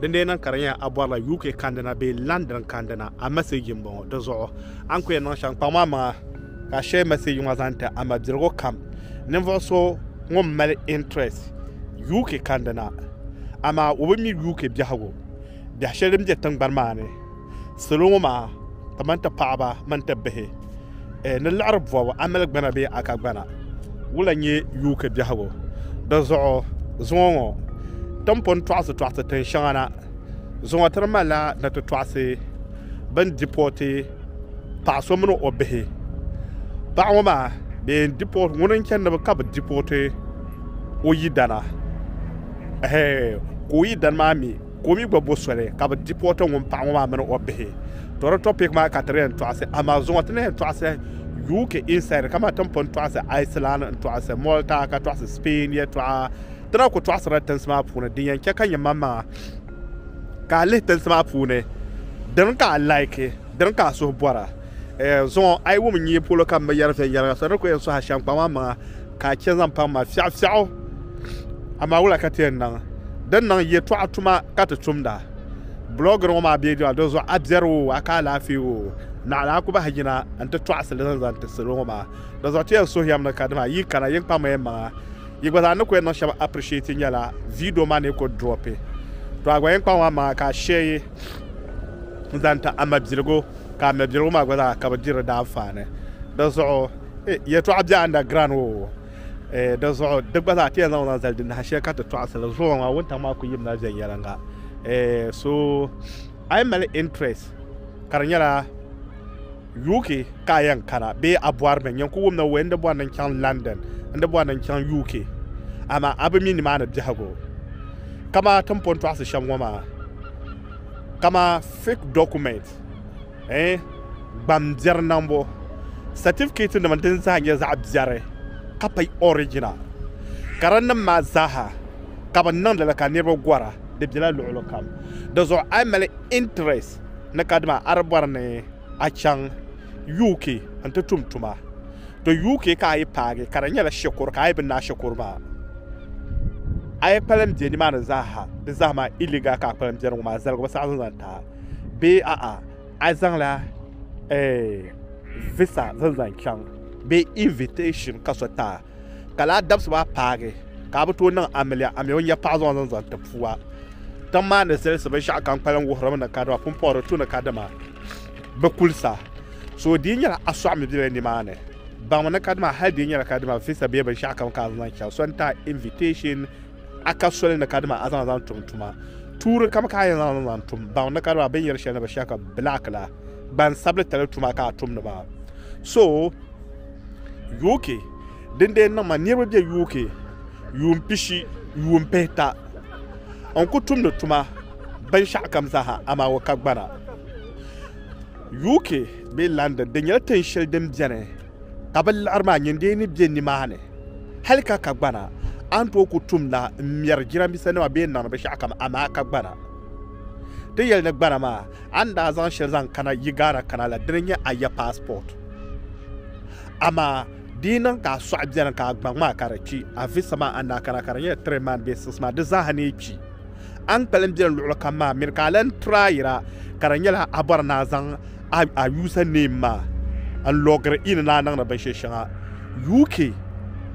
Dindee niŋ ka di nyɛla a bɔrila UK kandina bee London kandina, a mɛseeji m-bɔŋɔ. Di zuɣu, a ni ku yɛn niŋ shɛm, kpaŋm a maŋa ka a shɛɛ mɛseeji ŋɔ zaŋ ti a mabirigu kam. Ninvuɣ so ŋun mali interest UK kandina, amaa o bi mi UK biɛhigu, biɛh shɛli din be tiŋgbani maa ni. Salo ŋɔ maa kamani ti paɣaba mini ti bihi ni liɣiri bɔbu amiligbana bee akagbana wula n-nyɛ UK biɛhigu. Di zuɣu zuŋɔ ŋɔ ti ni pun tɔɣisi tɔɣisi tin shɛŋa na zuŋɔ ti ni malila ni ti tɔɣisi bɛ ni dipɔɔti paɣ so mini o bihi. Paɣ ŋɔ maa bɛ yɛn dipɔɔti ŋuni n-chani ka bɛ dipɔɔti o yidana ehe ka o yidana maa mi Ka o mi gba bo soli ka bɛ dipooti ŋun paɣa ŋɔ maa mini o bihi. To di topic maa ka ti di yɛn tɔɣisi amaa di zuŋɔ ti ni yɛn tɔɣisi UK inside kaman ti ni pun tɔɣisi Iceland n-tɔɣisi Malta ka tɔɣisi Spain yɛtɔɣa. Ti na ku tɔɣisirila tinsi maa puuni din yɛn chɛ ka nyɛ maŋmaŋa ka a lihi tinsi maa puuni dini ka a like dini ka a suhu bɔra. Zuŋɔ a yi wum n-nyɛ polo ka m bi yɛri viɛnyɛliŋga so di ni ku yɛn sɔhi a shɛm kpaŋmaŋmaŋa Ka a chɛ zaŋ paŋ ma fiɛɣufiɛɣu, amaa wula ka ti yɛn niŋ din niŋ yɛtɔɣa tuma ka ti tumda? Bulɔɔgiri ŋɔ maa bee dɔɣi di zuɣu a biɛri oo, a ka alaafee oo, naɣila a ku bahi yina nti tɔɣisi li zaŋ zaŋ ti salo ŋɔ maa. Di zuɣu ti yɛn suhi yɛm ni ka dima yi kana yi kpaŋmi yɛn maŋa. Yi gba zaa ni ku yɛn niŋ shɛba appreciate nyɛla video maa ni ku dropi. Tɔ a gba yɛn kpaŋmi a maŋa ka a share yi zaŋ ti a mabiligu ka a mabiligu maa gba zaa ka bɛ diri di anfaani. Di zuɣu. Eh, yɛtɔɣa bɛ underground ŋɔ o. Eh, di zuɣu di gba zaa ti yɛn zaŋ zaŋ zali di naha shɛli ka ti tɔɣisiri zuɣu ŋɔ wuntaŋ maa kuli yimla viɛnyɛliŋga. Eh, so a yi mali interest ka di nyɛla UK ka a yɛn kana bee a bɔri mi, nyini ku wum ni wee n di bɔri ni n chaŋ London, n di bɔri ni n chaŋ UK amaa a bi mi nimaani biɛhigu. Kamaa ti ni pun tɔɣisi shɛm ŋɔ maa, kamaa fake documents. Gbambiɛri niŋbu satifikɛtinima din zaa nyɛ zaɣ biɛri ka pa original karinim maa zaaha ka bɛ niŋdi li ka niriba gɔra di bela luɣili kam di zuɣu a yi mali interest ni kadama a di bɔri ni a chaŋ UK n-ti tum tuma to UK ka a yi paagi ka di nyɛla shikuru ka a yi bi naai shikuru maa a yi kpalim be nimaani zaaha di zaa maa illegal ka a kpalim beni ŋɔ maa zaligu bi saɣisi zaŋ ti a. bee a'a a zaŋla eh, visa zaŋ zaŋ chaŋ bee invitation ka so taa ka laa dabisi maa paagi ka a bi tooi niŋ amiliya a mi o nya paɣa zaŋ zaŋ zaŋ ti pua tiŋ maa ni zilisi binshaɣu kam kpalim wuhirimi ni kadama pumpɔri tu ni kadama bi kulisa so di nyɛla a sɔɣimi bela nimaani baŋmi ni kadama hali di nyɛla kadama visa bee binshaɣu kam ka a zaŋ chaŋ so n-taa invitation A ka soli ni kadama a zaŋ zaŋ tum tuma tuuri kam ka a yɛn zaŋ zaŋ tum baŋ ni kadama bɛ ni yɛri shɛli ni bɛ shɛhi ka black la gbansabili tali tuma ka a tum ni ba so UK dindee niŋ ma niriba bɛ UK yuun pishi yuun pihita n ku tum ni tuma binshɛɣu kam zaaha amaa o ka gbana UK bee London di nyɛla tin shɛli din bɛni Ka bɛ liɣiri maa nyin dee ni be nimaani hali ka ka gbana, a ni tooi ku tumda m-mɛri jiramisanima bee n-niŋdi binshɛɣukam amaa ka gbana. Ti yɛli ni gbana maa, a ni daa zaŋ shɛli zaŋ kana yi Ghana kana la, dini n-nyɛ a ya paasipɔt. Amaa di yi niŋ ka a sɔɣi beni ka a gbaŋ maa ka di kpi, a visa maa a ni daa kana ka di nyɛ tiri man bee six man, di zaaha ni yi kpi. A ni pali m-beni luɣili kam maa mini ka a lan turi a yira ka di nyɛla a bɔri ni a zaŋ a user name maa n-logiri in ni a niŋdi binshɛli shɛŋa. UK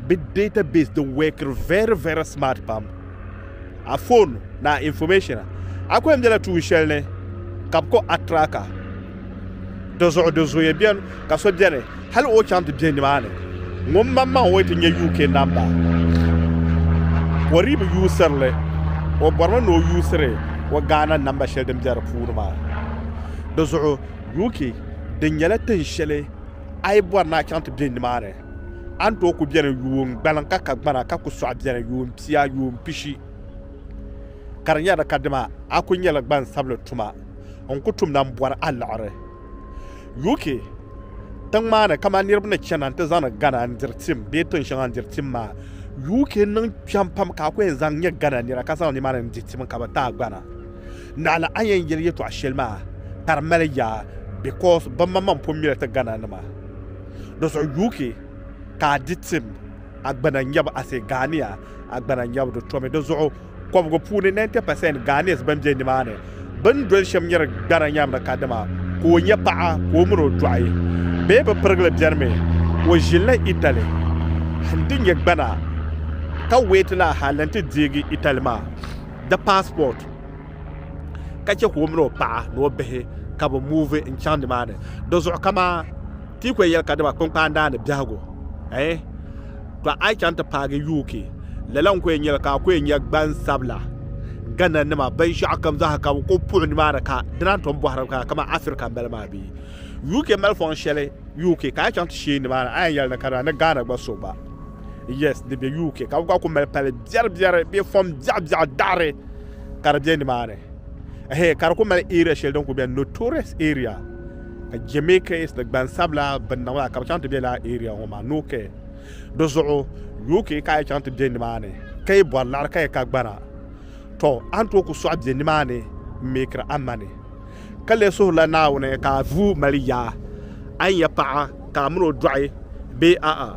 bɛ database di workiri very very smart pam. A phone ni a information a kuli bela tuun shɛli ni ka bɛ kɔ a tracker. Dizuɣu di zooya bɛn ka so bɛni hali o chaŋ ti bɛ nimaani ŋun maŋmaŋ o yi ti nyɛ UK namba o dii bi yuusirili o bɔrimi ni o yuusiri o Ghana namba shɛli din bɛ di puuni maa dizuɣu UK di nyɛla tin shɛli a yi bɔri ni a chaŋ ti bɛ nimaani a ni tooi ku bɛni yuun gbaliŋ ka ka gbana ka ku sɔɣi bɛni yuun pia yuun pishi ka di nyɛla kadama a ku nyɛla gbansabili tuma n ku tumda m-bɔri a liɣiri. UK tiŋ maa ni kamani niriba ni chana nti zaŋdi Ghana n-diri tim bee tiŋ shɛŋa n-diri tim maa, UK niŋ kpɛm pam ka a ku yɛn zaŋ nyɛ Ghana nira ka zaŋ nimaani n-di tim ka bɛ ti a gbana. Naɣila a ni yɛn yɛli yɛtɔɣ shɛli maa ka di mali yaa because bimaŋmaŋ pun mi li ti Ghana nima. Di zuɣu UK ka a di tim, a gbana n-nyɛ ba, I say Ghanea, a gbana n-nyɛ ba, di tomi di zuɣu. kɔbigu puuni 90% Ghanese ban be nimaani bɛn doli shɛm nyɛri gbana nyamri ka dama ka o nyɛ paɣa ka o min o dɔɣi bee bɛ pirigili bɛnimi o ʒilila Italy n ti nyɛ gbana ka wait la hal n ti deegi Italy maa di passport ka chɛ ka o min o paɣa ni o bihi ka bɛ move n chaŋ nimaani di zuɣu kamaa Ti yi ko yɛli ka dima kpinkpaandaa ni biɛhigu, eh, tɔ a yi chaŋ ti paagi UK, lala n-ko yɛn nyɛli ka a ko yɛn nya gbansabila Ghana nima binshɛɣu kam zaa ha ka bɛ kuli puɣi nimaani ka dina n-tom bɔhiri ka kamani Africa m-bala maa bee? UK mali fɔŋ shɛli UK ka a yi chaŋ ti sheei nimaani a yɛn yɛli ni ka dima ni Ghana gba so gba, yes, di be UK ka bɛ gba kuli mali pali biɛribiɛri bee fɔŋ biɛɣubiɛɣu daɣiri ka di be nimaani, eh, ka di kuli mali area shɛli din kuli beni, notorious area. ka Jamaicans ni gbansabila binniŋ maa ka bi chaŋ ti bɛ laa area ŋɔ maa no kɛ di zuɣu UK ka a yi chaŋ ti bɛ nimaani ka yi bɔri laɣiri ka yi ka gbana tɔ a ni tooi ku sɔɣi bɛ nimaani n meekiri a mani ka lee suhirila Naawuni ka a vuu mali yaa a ni nya paɣa ka a mini o dɔɣi bee a'a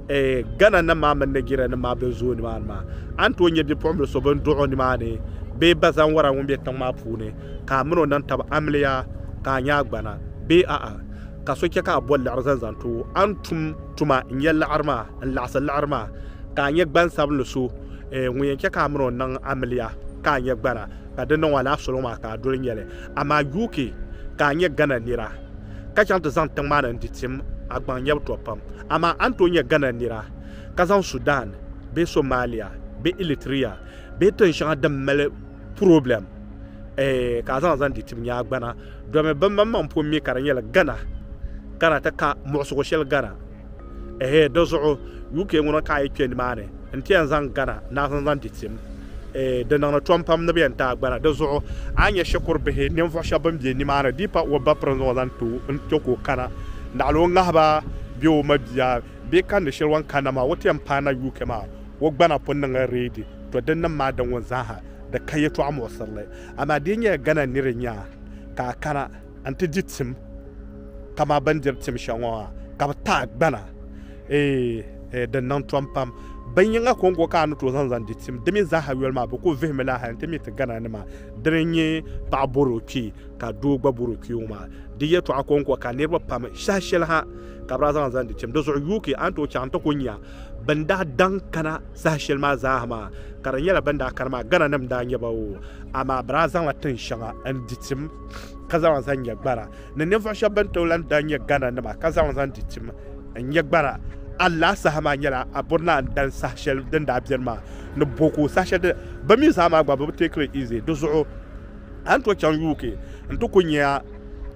eh, Ghana nim maa mini Nigeria nim maa bin zooi nimaani maa a ni tooi nya bipuɣimbili so bin duɣi o nimaani bee bazanwara ŋun bɛ tiŋ maa puuni ka a min o nam tab amiliya ka a nya a gbana bee a'a, ka so chɛ ka a bɔ liɣiri zaŋ zaŋ ti o, a ni tum tuma n-nya liɣiri maa, n-laɣisi liɣiri maa, ka a nyɛ gbansabinli so ŋun yɛn chɛ ka a min o niŋ amiliya ka a nya gbana, ka di niŋ o alaafisoli ŋɔ maa ka a doli nya li. Amaa yuui ke ka a nyɛ Ghana nira, ka chaŋ ti zaŋ tiŋ maa ni n-ti tim a gbaŋ nyɛbu tɔb pam. Amaa a ni tooi nyɛ Ghana nira, ka zaŋ Sudan bee Somalia bee Eritrea bee tin shɛŋa din mali problem eh, ka a zaŋ zaŋ di tib nyaa gbana domi bin man man pun mi ka di nyɛla Ghana ka na ti ka muɣisigu shɛli Ghana ehe di zuɣu UK ŋuna ka a yi kpɛ nimaani n ti yɛn zaŋ Ghana naa zaŋ zaŋ di tim eh, di niŋdi tom pam ni bi yɛn taai gbana di zuɣu a ni nyɛ shikuru bihi ninvuɣu shɛba bin bɛ nimaani di pa o ba piri n zaŋ o zaŋ ti o n chɛ ka o kana naɣila o ŋahiba bɛ o mabia bee kani shɛli o ni kanna maa o ti yɛn paai na UK maa o gbana pun niŋla reedi To dinnim maa di ŋun zaaha di ka yɛtɔɣa muɣisirili, amaa di yi nyɛla Ghana niri nyaa ka a kana n-ti di tim kaman bɛ ni diri tim shɛŋa ŋɔ maa, ka bɛ ti a gbana, eei, eei, di niŋ tom pam. Binyiŋa kɔŋko ka a ni tooi zaŋ zaŋ di tim, di mi zaaha yoli maa bɛ kul vihimi la hal nti mi ti Ghana nima dini n-nyɛ paɣa bɔri o kpee ka doo gba bɔri o kpee ŋɔ maa. Di yɛtɔɣa kɔŋko ka niriba pam shɛhi shɛli ha ka bɛ daa zaŋ zaŋ di tim. Di zuɣu UK a ni tooi chaŋ nti ku nya Bɛn daa daŋ kana saha shɛli maa zaa ha maa, ka di nyɛla bɛn daa kani maa Ghananim n-daa nyɛ ba oo, amaa bɛ daa zaŋla tin shɛŋa n-di tim ka zaŋ li zaŋ nyɛ gbana. Ni ninvuɣ shɛb bɛn tooi lan daa nyɛ Ghananima ka zaŋ li zaŋ di tim n-nyɛ gbana alaha saha maa nyɛla Aburna n dali saha shɛli din daa beni maa ni Boko saha shɛli din bɛ mi zaa maa gba bɛ bi teekiri easy di zuɣu. A ni tooi chaŋ UK n ti ku nya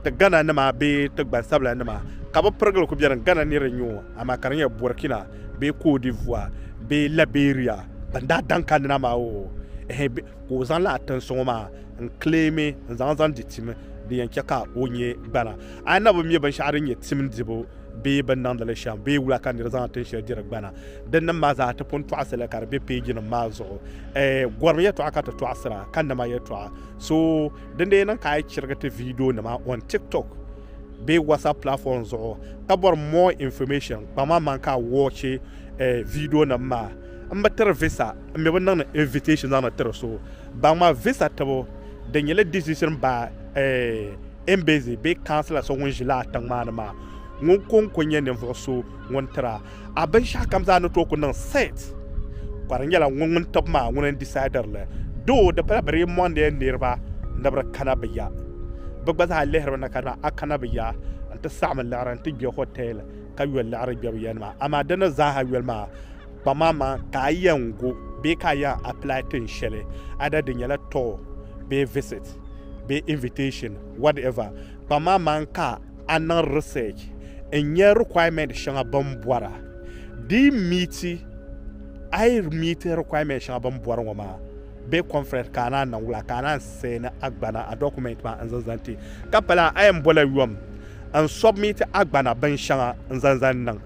ti Ghana nima bee ti gbansabila nima ka bi pirigili ku beni Ghana niriba n-nyɛ o amaa ka di nyɛ Burkina bee Côte d'Ivoire bee Liberia bɛn daa daŋ kanina maa o ehe bɛ ka o zaŋla a tin suŋɔ maa n claimi n zaŋ zaŋ di tim di yɛn chɛ ka o nyɛ gbana a ni na bi mi binshɛɣu din nyɛ tim dibu bee bɛ ni niŋdi li shɛm bee wula ka niri zaŋ a tin shɛli diri gbana Din nim maa zaa ti pun tɔɣisi li ka di be peejinim maa zuɣu. Eh, gɔrim yɛtɔɣa ka ti tɔɣisira, ka nama yɛtɔɣa. So, din dee niŋ ka a yi chirigi ti viidionima on TikTok bee WhatsApp platform zuɣu ka bɔri more information, kpaŋ ma maŋ ka a wɔchi eh viidionim maa. M bi tiri visa, m mi bi niŋdi invitation zaŋdi tiri so. Baŋ ma visa tibu di nyɛla decision by eh embassy bee councilor so ŋun ʒi lala tiŋ maa ni maa. Ŋun ko n-ko nyɛ ninvuɣ so ŋun tiri a. A binshɛɣu kam zaa ni tooi ku niŋ set. Ka di nyɛla ŋun ŋun tib maa ŋuni n-decide li. Doo di pala bɛ dii mɔndi ya niriba ni bɛ di kana bɛ ya. Bɛ gba zaa lihiri mi na ka di maa a kana bɛ ya n-ti saɣim n liɣiri n-ti gbe hotel ka yoli liɣiri gbe bɛ ya nima. Amaa di ni zaaha yoli maa kpamamaŋ ka a yɛn gu bee ka a yɛn apply tin shɛli either di nyɛla tour bee visit bee invitation whatever kpamamaŋ ka a niŋ research n nya requirement shɛŋa bɛn bɔra di yi meeti a yi meeti requirement shɛŋa bɛn bɔri ŋɔ maa bee conference ka a naan niŋ wula ka a naan send a gbana a document maa n zaŋ zaŋ ti ka pala a yɛn bɔla yom n submit a gbana bin shɛŋa n zaŋ zaŋ niŋ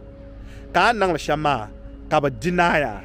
ka a niŋli shɛm maa ka bɛ deny a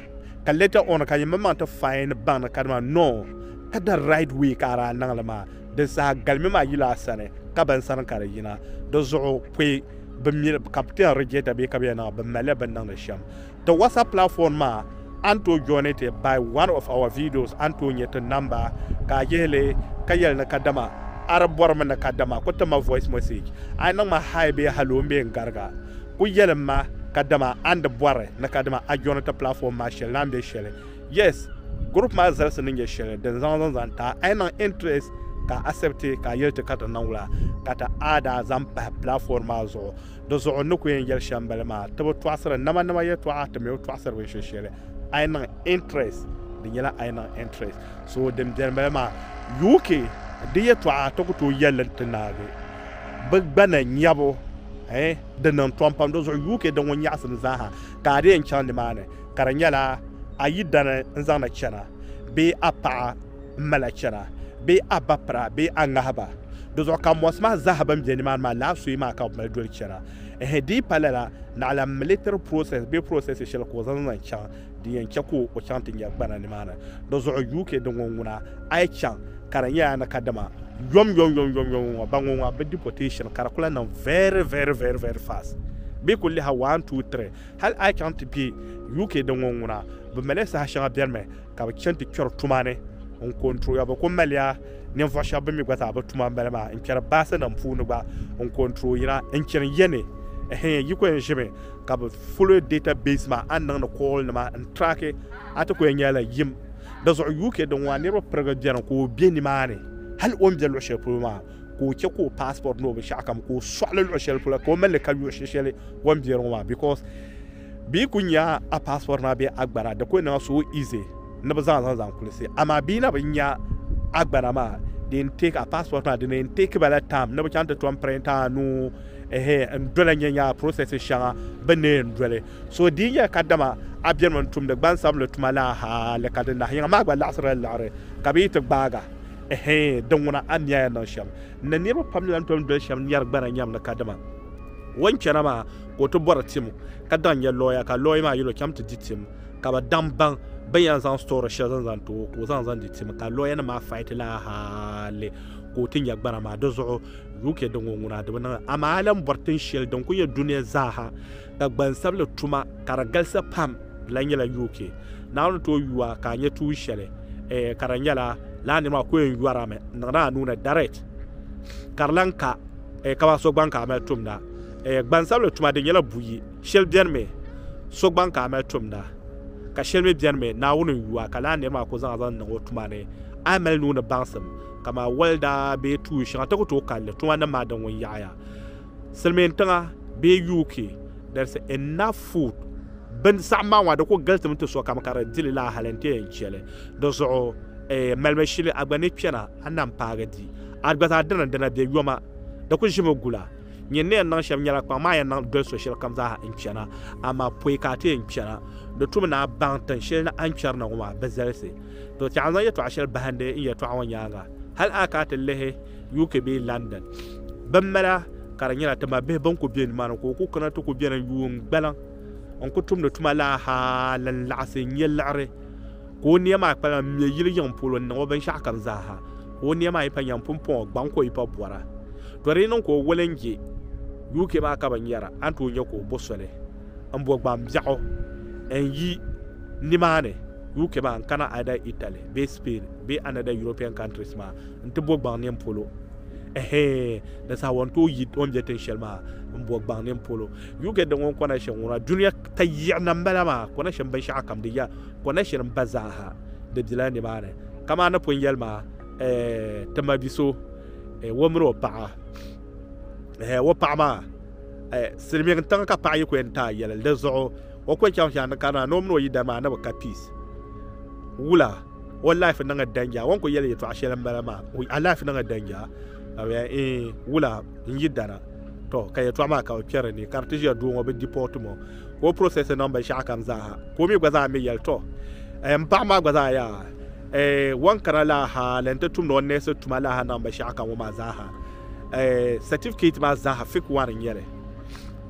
ka later on ka yimaŋmaŋ ti find baŋ ni kadama no ka the right way ka a daa niŋli maa Din saha galimi maa yila a sani, ka bɛn sani ka di yina. Di zuɣu pɔi bi mi li ka bɛ ti yɛn regieta bee ka bɛ yɛn niŋ bɛ mali li bɛ ni niŋdi shɛm. Ti WhatsApp platform maa, a ni tooi joini ti by one of our videos a ni tooi nyɛ ti namba ka a yihi li ka yɛli ni kadama a di bɔri mi ni kadama ku tim ma voice message. A yi niŋ ma hi bee hello m-be n gariga, ku yɛlim ma kadama a ni di bɔri ni kadama a joini ti platform maa shɛli ni a ni be shɛli. Yes, group maa zalisi ni nyɛ shɛli din zaŋ zaŋ zaŋ ta a yi niŋ interest ka a accept ka a yɛli ti ka ti niŋ la ka ti a daa zaŋ pahi platform maa zuɣu di zuɣu n ni ku yɛn yɛli shɛm n bala maa ti bi tɔɣisiri nama nama yɛtɔɣa ti mi bi tɔɣisiri binshɛ shɛli a yi niŋ interest di nyɛla a yi niŋ interest so din bɛni bala maa UK di yɛtɔɣa ti ku tooi yɛli n ti naagi bi gbana nyɛbu eh, di niŋ tɔm pam di zuɣu UK din ŋun nyaɣisim zaaha ka a di yɛn chaŋ nimaani ka di nyɛla a yidana n-zaŋ na chana bee a paɣa m-mala chana bee a bapira bee a ŋahiba. Dizuɣu ka mɔɣisi maa zaaha bɛn be nimaani maa lahi suyi maa ka bɛ mali doli chana. Ɛhɛ di yi pa lala, naɣila militiri process bee processes shɛli ka o zaŋ zaŋ chaŋ din yɛn chɛ ka o chaŋ ti nya gbana nimaani. Dizuɣu UK din ŋɔ ŋuna a yi chaŋ ka di nyɛla ni kadama yomyomyomyomyom ŋɔ ba ŋɔ ŋɔ a bi deportation ka di kuli lahi niŋ very very very very fast bee kuli liha one two three Hal a yi chaŋ ti be UK din ŋɔ ŋuna, bɛ mali ya saha shɛŋa bɛrimi ka bɛ chani ti kpɛri tuma ni n-ko n-tooi ya. Bɛ ku mali ya ninvuɣ shɛba bɛ mi gba zaa bɛ tuma m-bala maa n-kpɛri baasinim puuni gba n-ko n-tooi yina n-chani ya ni hee yi ku yɛn ʒimi ka bɛ follow data base maa a ni niŋdi kɔɔlinima n-track a ti ku yɛn nyɛla yim di zuɣu. UK din ŋɔ a niriba pirigi beni ka o be nimaani hal o ni be luɣ shɛli polo maa. ka o chɛ ka o passport ni o binshɛɣu kam ka o sɔɣili luɣi shɛli pula ka o mali li ka luɣi shɛli o ni bɛ di ŋɔ maa because bia ku nya a passport maa bee a gbana di ku niŋ so easy ni bi zaŋ zaŋ zaŋ kulisi amaa bia na bi nya a gbana maa di n take a passport maa di na yɛn take ba la time ni bi chaŋ ti tom print a nuu ehe n doli nyɛ nya process shɛŋa bi ni yɛn doli so di nyɛla ka dama a bɛnimi n tumdi gbansabinli tuma la hali ka di nahi yiŋa maa gba laɣisirila liɣiri ka bi yi ti gbaaga Ɛhɛɛn! Di ŋuna a ni nya ya niŋ shɛm ni niriba pam ni lan tom doli shɛm nyari gbana nyam ni kadama o ni chana maa ka o ti bɔri tim ka daŋ nya lɔya ka lɔya maa yɛl o cham ti di tim ka bɛ daŋ baŋ bɛ ni yɛn zaŋ story shɛli zaŋ zaŋ ti o ka o zaŋ zaŋ di tim ka lɔyanim maa fight li a hali ka o ti nya gbana maa. Di zuɣu UK di ŋɔ ŋuna di bi niŋ amaa a lan bɔri tin shɛli din kuli nyɛ dunia zaa ha ka gbansabili tuma ka di galisi pam di lahi nyɛla UK ni a ni tooi yu a ka a nyɛ tuun shɛli ka di nyɛla lala niri maa ku yɛn yɔri a mi n-niŋdi a nuu ni direct ka di lahi ka kamani so gbaŋ ka a mali tumda gbansabili tuma di nyɛla buyi shɛli beni mi so gbaŋ ka a mali tumda ka shɛli mi beni mi Naawuni n-yu a ka lala niri maa ku zaŋ a zaŋ niŋ o tuma ni a ni mali nuu ni baŋsim kaman welda bee tuun shɛŋa ti ku tooi kali li tuma nim maa din wun yaɣi ya Silimiin tiŋa bee UK there is enough food bin saɣim maa ŋɔ di ku galitimi ti sokam ka di dili laa hali n-ti yɛn cheli di zuɣu eh, malimi shili a gba ni kpɛna a nam paagi di a gba zaa dina dina bɛ yoma di ku ʒimi gula nyin ni yɛn niŋ shɛm nyɛla kpaŋ maa yɛn niŋ doli so shɛli kam zaa n kpɛna amaa pɔi ka a ti yɛn kpɛna di tumi ni a baŋ tin shɛli ni a ni kpɛri na ŋɔ maa bi zalisi to ti a zaŋ yɛtɔɣa shɛli bahindi n yɛtɔɣa ŋɔ nyaaŋa hali a ka a ti lihi UK bee London bin mala ka di nyɛla tima bihi bin ku bɛ nimaani ka o ku kana ti ku bɛni yuun gbaliŋ n ku tumdi tuma la hal n laɣasi n nyɛ liɣiri ka o nia maa kpalim n mɛ yili yiŋ polo n niŋ o binshaɣu kam zaaha ka o nia maa yi pa nyɛm pumpɔŋɔ gbaŋ ka o yi pa bɔra to di yi niŋ ka o woli n je UK maa ka bi nyɛra a ni tooi nyɛ ka o bo soli n bo gbaŋ biɛɣu n yi nimaani UK maa n kana either Italy bee Spain bee another European countries maa n ti bo gbaŋ nini polo ɛhɛɛ di saha wɔn tooi yi o ni bɛ tin shɛli maa n bo gbaŋ nini polo UK din ŋun kɔna shɛm ŋuna duniya ta yiɣi na n bala maa kɔna shɛm binshɛɣu kam di ya kɔna shɛli n ba zaaha di bela ni maa ni kamaa ni pun yɛli maa ɛɛ ti ma biso ɛɛ o mini o paɣa ɛɛ o paɣa maa ɛɛ silimiin tiŋa ka paɣa yi ku yɛn taai yɛlli di zuɣu O ko chaŋ shɛli ni ka naa ni o mini o yidana maa ni bi ka peace. Wula, o life niŋ a danger. O ni ku yɛli yɛtɔɣa shɛli m-bala maa, a life niŋ a danger. Ka bɛ yɛli, ee, wula, n yidana. Tɔ, ka yɛtɔɣa maa ka bɛ kpɛri ni ka di ti ʒiya doo ŋɔ bi deport o, ka o process niŋ binshɛɣu kam zaa ha. Ka o mi gba zaa mi yɛli, tɔ, eh, m paɣiba maa gba zaa yaa, eh, wan kana lala ha ni n ti tumdi o nurse tuma lala ha niŋ binshɛɣu kam ŋɔ maa zaa ha. Eh, certificate maa zaa ha fake one n-nyɛ li.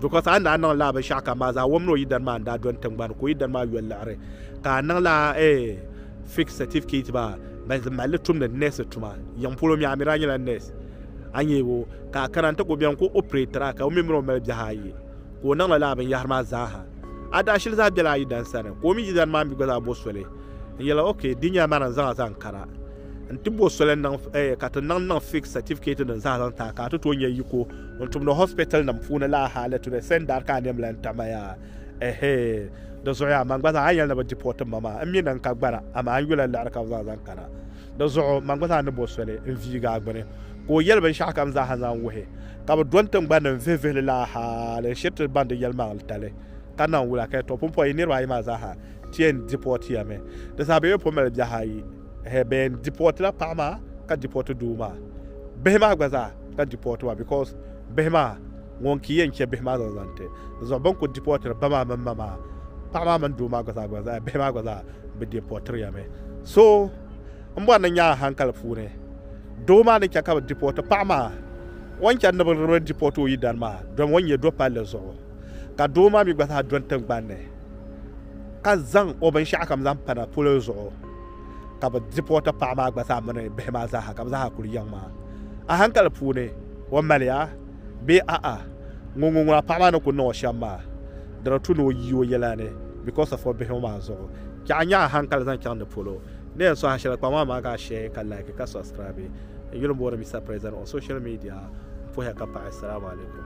Because a ni daa niŋ laa binshaɣu kam maa zaa wom ni o yidana maa n-daa dɔni tiŋgbani ka o yidana maa yoli liɣiri ka a niŋ laa eh, fake certificate maa ban zi mali li tumdi nurse tuma. Yiŋ polo mi a mi daa nyɛla nurse. A nya o ka a kana nti ku beni ka o operate a ka o mi mini o mali biɛhi ayi ka o niŋla laa binyahiri maa zaa ha. A daa shili zaa bela a yidana sani ka o mi yidana maa mi gba zaa bo soli n-yɛli ok di nyɛla ma ni n-zaŋ a zaŋ kana n-ti bo soli n-niŋ eh, ka ti niŋ niŋ fake certificate nim zaa zaŋ ti a ka a ti tooi nya yiko Ŋun tumdi hospital nim puuni laa hali today same dari ka a nɛm lan tamaya ehee di zuɣuya man gba zaa a ni yɛli ni bi deport m ma maa n mi ni n ka gbara amaa n yula liɣiri ka bi zaŋ zaŋ kana di zuɣu man gba zaa ni bo soli n viigi a gbuni ka o yɛli binshɛɣu kam zaa ha zaŋ wuhi ka bi do n tingbani ni n vihi vihili laa hali n shiri ti ban di yɛlimaŋli tali ka naŋ wula ka yɛli tɔ pumpɔi yi niriba ayi maa zaa ha ti yɛn deportiya mi di zaa bɛ yuli po mali biɛhi ayi ehe bɛ yɛn dipɔtila paɣa maa ka dipɔti doo maa bihi maa gba zaa ka dipɔti ba because bihi maa ŋun ki yɛn chɛ bihi maa zaŋ zaŋ ti zuɣu bin ku dipɔtiri ba maa mini ma maa paɣa maa mini doo maa gba zaa gba zaa bihi maa gba zaa bi dipɔtiriya mi so n bɔri ni nyaa hankali puuni doo maa ni chɛ ka bi dipɔti paɣa maa o ni chɛ ni bi dipɔti o yidana maa domi o ni nyɛ do palli zuɣu ka doo maa mi gba zaa dɔni tingbani ni ka zaŋ o binshɛɣu kam zaŋ pana polo zuɣu ka bi dipɔɔti paɣa maa gba zaa mini bihi maa zaaha ka bi zaaha kuli yiŋ maa a hankali puuni o maliya bee a'a ŋun ŋun ŋuna paɣa maa ni ku niŋ o shɛm maa di di tu ni o yi o yɛla ni because of o bihi ŋɔ maa zuɣu ka a nya a hankali zaŋ chaŋ di polo ni yɛn sɔhi shɛli kpaŋ maa maa ka a share ka like ka subscribe n yuli booni Mister President on social media n puhiya ka paɣi salamu alaikum